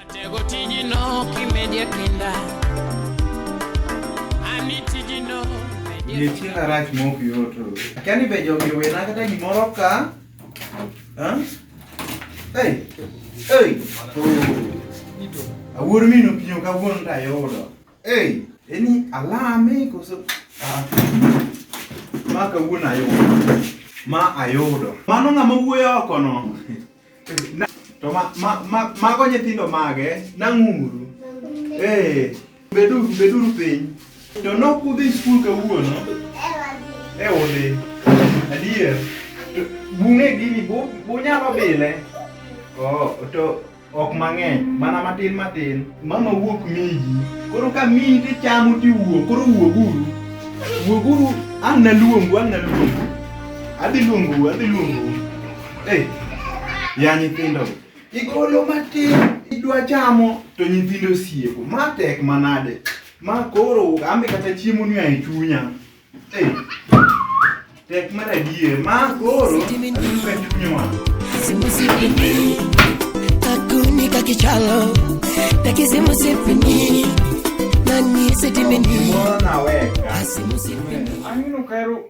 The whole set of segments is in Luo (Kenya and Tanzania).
Atego tijino kimeje kinda. Ani tijino Ye chila rach mok yoto. Kani be jogi wena kata gimoro ka. Ha? Hey. Hey. Awuor mino pinyo ka wuon ta yodo. Hey. Eni alame koso. Ah. Ma ka wuon ayodo. Ma ayodo. Mano ng'ama wuoyo oko no. To ma, ma, ma, mago nyithindo mage, nang'uru. Ee, beduru, beduru piny. To nok udhi skul kawuono? E udhi. Adier. To Bung'e gini, bu- bunyalo bile? Oh, to ok mang'eny, mana matin matin. Mama wuok miji. Koro ka miyi to ichamo to iwuok, koro wuoguru. Wuoguru, ang' naluongu, ang' naluongu. Adhi luongu, adhi luongu. Hey, ya nyithindo igolo matin idwa chamo to nyithindo osieko ma tek manade ma koro ambe kata chiemo ni ae chunya hey, tek mar adier ma koro atuka chunywa simusipini kakuni kakichalo takisimusipini nani sitimini moro naweka asimusipini Angino kaero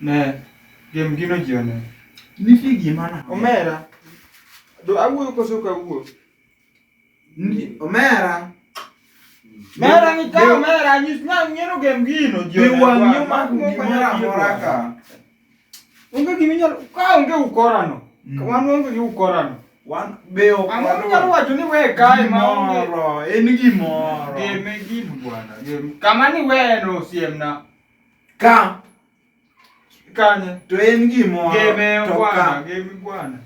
Ne, gem gino ji one. Nitie gima na. Omera. Do awuoyo koso ok awuo? Omera. Mera ni ka omera nyis na ng'ero gem gino ji one. Biwa nyuma kumera mora ka. Onge gima inyalo ka onge ukorano. Mm. Wan onge gi ukorano. Wan be ok. Ang'o minyalo wacho ni we kae ma onge. En gimoro. Gem e gino bwana. Gem kama ni we no siemna. Ka kanye to en gimoro Gimeo to bwana, ka gemi bwana.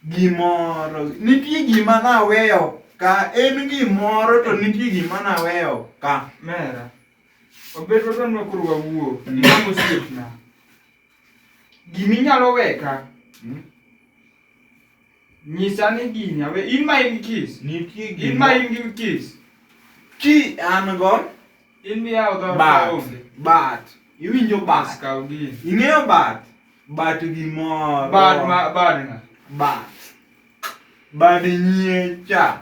gimoro nitie gima naweyo ka en gimoro to nitie gima naweyo ka Mera. Obed wadwa ni koro wawuo. Mm. Mama osiepna. Gimi nyalo weka. Mm. Nyisa ni gini awe in ma in kiss. Nitie In gima ma in gi kiss. ki an go In mi yawo dhoot bat kaonge. bat iwinjo Bas bat kaw gini. ing'eyo bat bat gimoro Bad ma bad nga. bat bad nyiecha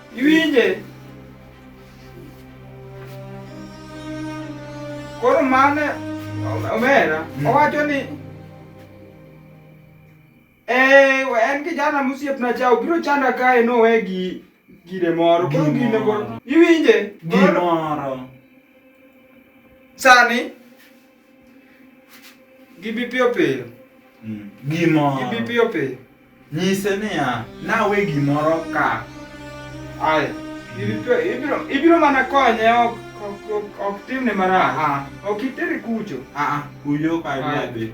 Iwinje? Koro mane omera hmm. owacho ni eh, en kijana mosiepna cha obiro chanda kae nowe gi gire moro koro gine koro iwinje gimoro sani Gibi piyo piyo. Mm. Gimoro. Gibi piyo piyo. Nyise niya, nawe gimoro ka. Aya. Gibi piyo. Ibiro, ibiro mana konye ok ok ok timne marach. Ah. Ok itere kucho. Ah, ah. kuyo ka dhi.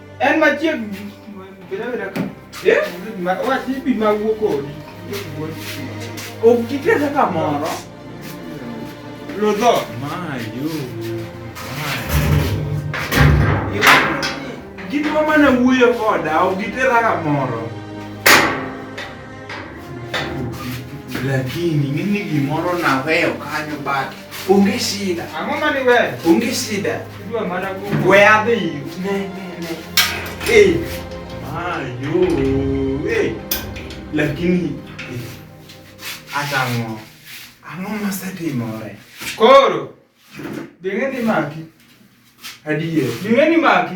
En machiegni. Eh? Wach ibi ma wuo kodi. Ok kitesa kamoro. Lodho. Mayo. Gin ma mana wuoyo koda, ok gitera kamoro. Lakini ng'eni gimoro naweyo kanyo but onge shida. Ang'o mani weyo? Onge shida. We adhi. Ne, ne, ne. Eh. Ayo. Eh. Lakini hata eh. ngo. Ang'o masetimore? Koro. Ding'e ni maki. Adier. Ding'e ni maki.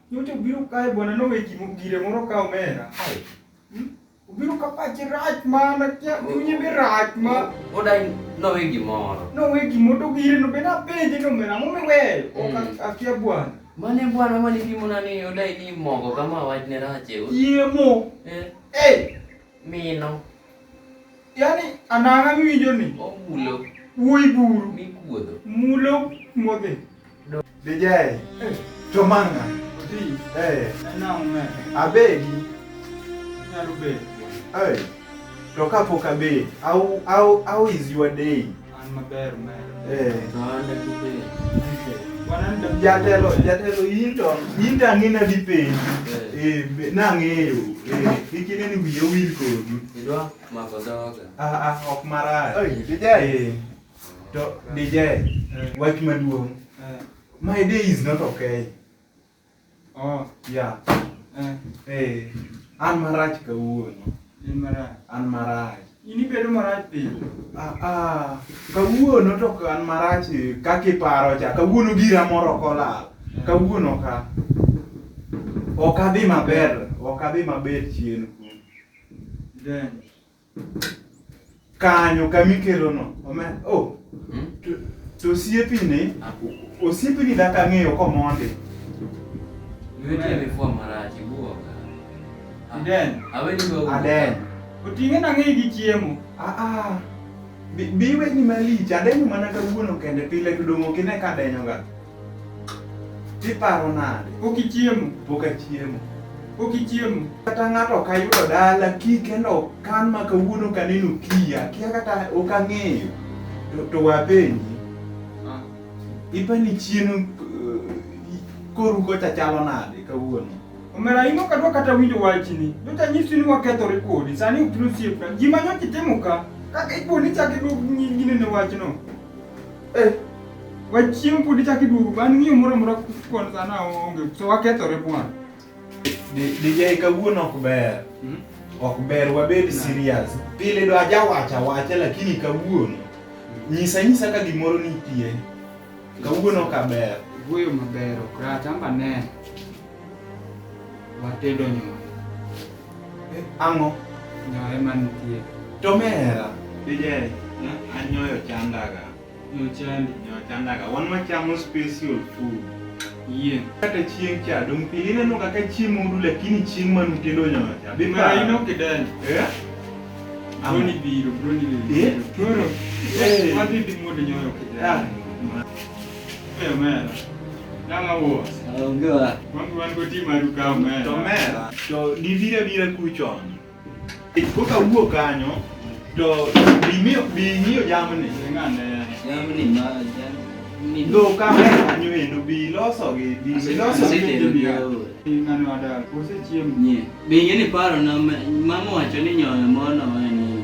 Nyocha obiro kae bwana nowe gire moro ka omera. Hmm? Obiro ka pache rach mana kia chunye be rach ma. Odai nowe gimoro. Nowe gimoro to gire no be napenje ni omera ang'o miweyo? Ok hmm. akia bwana. Mane bwana mane pimona ni odai ni mogo kama wachne rach e. Yie mo. Eh. Eh. Mino. Yaani ananga miwinjo ni. Omulo. Wuoyi buru. Mikuodho. Mulo modhi. Dijay. Eh. To manga. Di. Eh. Ena ume. Abedi. Nyalo bedi. Eh. To kapok abedi. How, how, how is your day? Eh, jatelo jatelo in to in to ang'ina dhi penji eh, eh nang'eyo eh, kik ine ni wiye owil kodi idwa mako dhoga ah, ah, ok marach eh, to DJ wach maduong' my day is not okay Oh, ya. Eh. Eh. An marach kawuono. In marach. An marach. In ibedo marach pile. Ah, ah. Kawuono to ok an marach eh, kaka iparo cha. Kawuono gira moro ok olal. Kawuono ka. Ok adhi maber. Ok adhi maber chien. Then, kanyo kama ikelono omera oh Hmm? to, to osiepini Akuku. osiepini dak ang'eyo komondi Niwete imefua marachi buoga. Aden. Aweni wewe. aden Oting'e nang'eyi gi chiemo. aa biweni malich adenyo mana kawuono kende pile to dong' ok ine ka adenyoga Tiparo nade? Pok ichiemo? Pok achiemo. Pok ichiemo? Kata ng'ato ok ayudo dala ki kendo kan ma kawuono kaneno kiya kia kata ok ang'eyo to, to wapenji ah. ipa ni chien uh, eh, koru kocha chalo nade kawuono? Omera imo kadwa kata winjo wachni. Nyocha nyisi ni wakethore kodi, sani ok nosiepna. Gima nyocha itimo ka, kaka ipo ni chak iduog nyingine ne wachno. Eh, wachieng' pod ichak iduogo ban ng'iyo moro amora kwan sana onge so wakethore bwana. DJ kawuono ok ber. Hmm? Ok ber wabed serious. Pile do aja wacha wacha lakini kawuono hmm. nyisa nyisa ka gimoro nitie. Kawuono ka ber. Wuoyo maber ok rach amba ne. Watedo nyoyo. Eh, Ang'o? Nyoyo ema nitie. To mera. Dijeri, anyoyo chandaga. Nyoyo chandi. Nyoyo chandaga. Wan wachamo special food. Yie. Kata chieng' cha dong' pile ineno kaka chiemo udu lakini chieng' man utedo nyoyo cha. Be Mara paro. ino kidenyo. Eh? Broni biro, broni Eh? biro. Koro, Eh. wadhi dhi muod nyoyo kidenyo. Ah. To dibira bira kuchon. Koka wuok kanyo to bimiyo bing'iyo jamni. Jamni ma jamni. Ndo ka kanyo endo bi loso gi bi loso gi ng'ano adal. Kose chiemo. Bing'e ni paro na mama wacho ni nyoyo mono en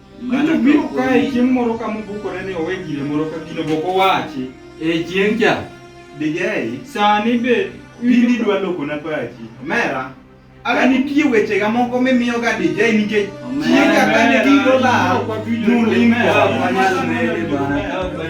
Mano biro kae chieng' moro ka mobukore ni owe gire moro ka gino boko wachi. E chieng' cha. Digei. Sani be. Bindi dwa loko na pachi. Mera. Aga nitie weche ga moko mimiyo ga DJ nikech chieng' ka kane giro la. Nulimera. Nulimera.